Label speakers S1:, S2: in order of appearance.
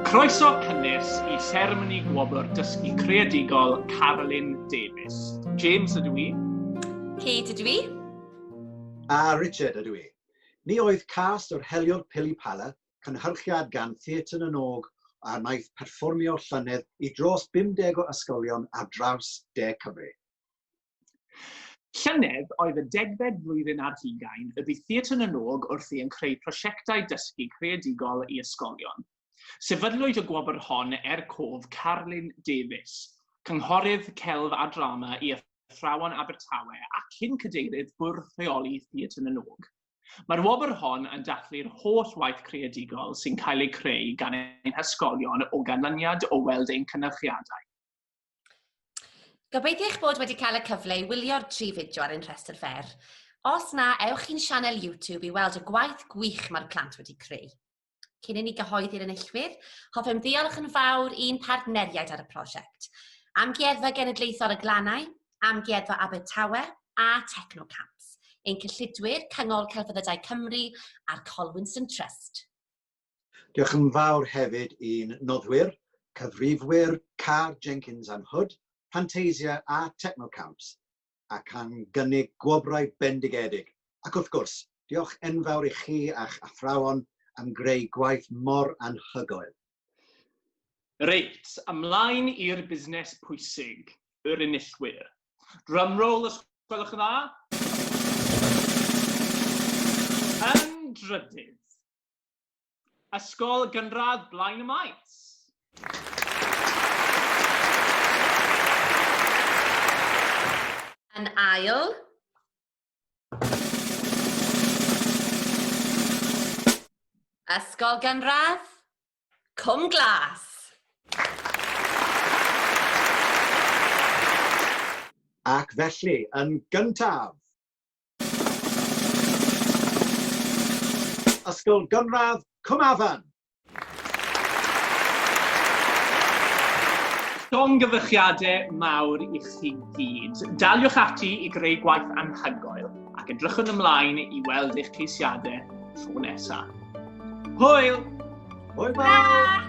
S1: Croeso cynnes i seremoni gwobr dysgu creadigol Carolyn Davies. James ydw i. Kate ydw
S2: i.
S3: A Richard ydw i. Ni oedd cast o'r heliwr Pili Pala cynhyrchiad gan Theatr na n-Og a wnaeth perfformio llynedd i dros 50 o ysgolion ar draws De Cymru.
S1: Llynedd oedd y degfed flwyddyn ar hugain y bu Theatr na n-Og wrthi yn creu prosiectau dysgu creadigol i ysgolion. Sefydlwyd y gwobr hon er cof Carlyn Davies, Cynghorydd Celf a Drama i Athrawon Abertawe a cyn-Cadeirydd Bwrdd Rheoli Theatr na n-Og. Mae'r wobr hon yn dathlu'r holl waith creadigol sy'n cael eu creu gan ein hysgolion o ganlyniad o weld ein cynyrchiadau.
S2: Gobeithio eich bod wedi cael y cyfle i wylio'r tri fideo ar ein rhestr fer. Os na, ewch i'n sianel YouTube i weld y gwaith gwych mae'r plant wedi creu. Cyn i ni gyhoeddi'r enillwyr, hoffem ddiolch yn fawr i'n partneriaid ar y prosiect, Amgueddfa Genedlaethol y Glannau, Amgueddfa Abertawe a Technocamps, ein cyllidwyr Cyngor Celfyddydau Cymru a'r Colwynson Trust. Diolch
S3: yn fawr hefyd i'n noddwyr, cyfrifwyr Carr Jenkins and Hood, Fantasia a Technocamps, ac am gynnig gwobrau bendigedig, ac wrth gwrs, diolch enfawr i chi a'ch athrawon am greu gwaith mor anhygoel.
S1: Reit, ymlaen i'r busnes pwysig, yr enillwyr. Drumroll os gwelwch yn dda. Yn drydydd. Ysgol Gynradd Blaen y Maes.
S2: Yn ail. Ysgol Gynradd Cwm Glas.
S3: Ac felly, yn gyntaf, Ysgol Gynradd Cwm Afan.
S1: Llongyfarchiadau mawr i chi gyd. Daliwch ati i greu gwaith anhygoel ac edrychwn ymlaen i weld eich ceisiadau tro nesaf. Hwyl! Hwyl fawr!